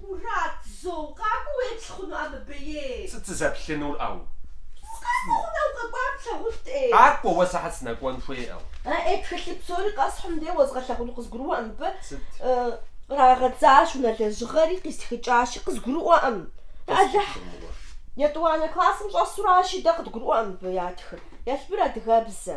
Мурат, зэ укъакӏуэу уеплъ хъунукъэ мыбы? Сыт сызэплъынур ӏэу? Укъакӏуэ хъунукъэ, укъэкӏуар плъагъунт ӏей? Къакӏуэ, уэ сыхьэт сынэкӏуэн хуей ӏэу? Э-ӏей, тхылъ псори къэсхьын де, уэзгъэлъагъуну, къызгурыӏуэкъым мыбы. Сыт? Кърагъэдзащ унэ лэжьыгъэри, къистхыкӏащи, къызгурыӏуэкъым. Алыхь, Къысхутрымыгъуэ. етӏуанэ классым щӏэсуращи, дэ къыдгурыӏуэкъым мыбы ятхыр. Елбыр адыгэбзэ.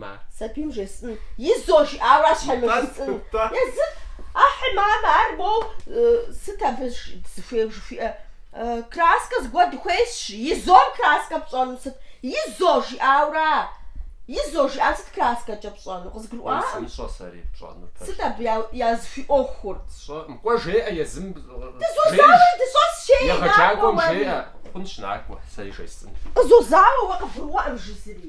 ма. Сабийм жесӏын, изо жиӏауэ ар щхьемыжысӏын. Езыф, ахьи, мамэ, ар моу, сыт абы дызыхуейуэ жыхуиӏэр? Краскэ зыгуэр дыхуейщ, изом краскэ пщӏэну сыт? Изо жиӏауэра? Изо жиӏам сыт краскэкӏэ пщӏэну? Къызгурыӏуакъым. Сищӏэ сэри пщӏэнур пэжу. Сыт абы языхуиӏуэхур? Сщӏэкъым. Кӏуэ жеӏэ езым. Дызозауэ дыщӏэс жей, накӏуэ уэри. Егъэджакӏуэм жеӏэ, хъунщ, накӏуэ, сэри жесӏын. Къызозауэ уэ, къыбгурыӏуэкъым жызыри.